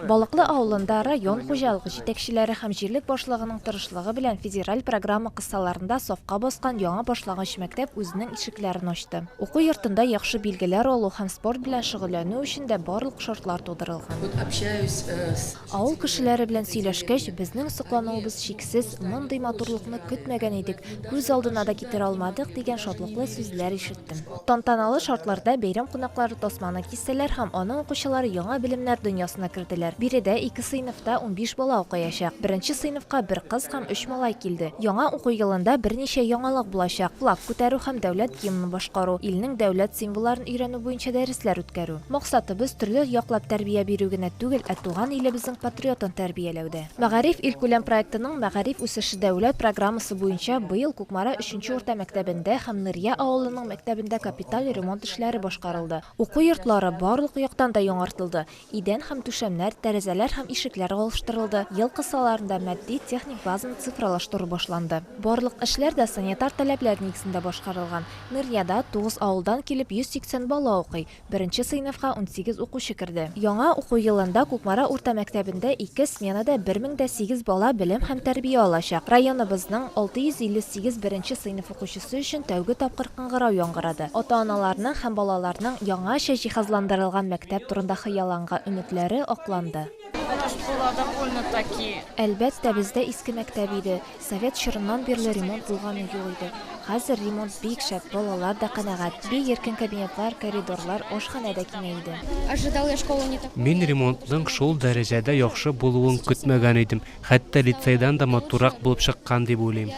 Балыклы авылында район хуҗалык җитәкчеләре һәм җирлек башлыгының тырышлыгы белән федераль программа кысаларында сафка баскан яңа башлагач мәктәп үзенең ишекләрен ачты. Уку йортында яхшы билгеләр алу һәм спорт белән шөгыльләнү өчен дә барлык шартлар тудырылган. Авыл кешеләре белән сөйләшкәч, безнең соклануыбыз чиксез, мондый матурлыкны көтмәгән идек, күз алдына да китерә алмадык, дигән шатлыклы сүзләр ишетелде. иттем. Тантаналы шартларда бәйрәм кунаклары тасманы кистеләр һәм аның укучылары яңа белемнәр дөньясына керделәр. Биредә ике сыйныфта унбиш бала укыячак. Беренче сыйныфка бер кыз һәм өч малай килде. Яңа уку елында берничә яңалык булачак, флаг күтәрү һәм дәүләт гимнын башкару, илнең дәүләт символларын өйрәнү буенча дәресләр үткәрү. Максатыбыз төрле яклап тәрбия бирү генә түгел, ә туган илебезнең патриотын тәрбияләү дә. Мәгариф илкүләм проектының Мәгариф үсеше дәүләт программасы буенча быел Кукмара өченче урта мәктәбендә һәм Нырья авылының мәктәбендә капиталь ремонт эшләре башкарылды. Уку йортлары барлык яктан да яңартылды, идән һәм түшәмнәр, тәрәзәләр һәм ишекләр алыштырылды, ел кысаларында матди-техник базаны цифралаштыру башланды. Барлык эшләр дә санитар таләпләр нигезендә башкарылган. Нырьяда тугыз авылдан килеп 180 бала укый. Беренче сыйныфка унсигез укучы керде. Яңа уку елында Кукмара урта мәктәбендә ике сменада бер мең дә сигез бала белем һәм тәрбия алачак. Районыбызның 658 беренче сыйныф укучысы өчен тәүге тапкыр кыңгырау яңгырады. Ата-аналарның һәм балаларның яңача җиһазландырылган мәктәп турында хыялланга өметләре акланды. Әлбәттә, бездә иске мәктәп иде. Совет чорыннан бирле ремонт булганы юк иде. Хәзер ремонт бик шәп, балалар да канәгать. Бик иркен кабинетлар, коридорлар, ашханә дә киңәйде. Мин ремонтның шул дәрәҗәдә яхшы булуын көтмәгән идем, хәтта лицейдан да матуррак булып чыккан дип уйлыйм.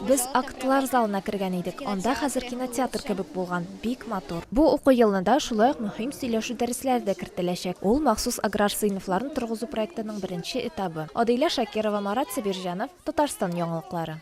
Без актлар залына кергән идек, анда хәзер кинотеатр кебек булган. Бик матур. Бу уку елына да шулай ук мөһим сөйләшү дәресләре дә кертеләчәк. Ул, махсус аграр сыйныфларын торгызу проектының беренче этабы. Адыйлә Шакирова, Марат Сабирҗанов, Татарстан яңалыклары.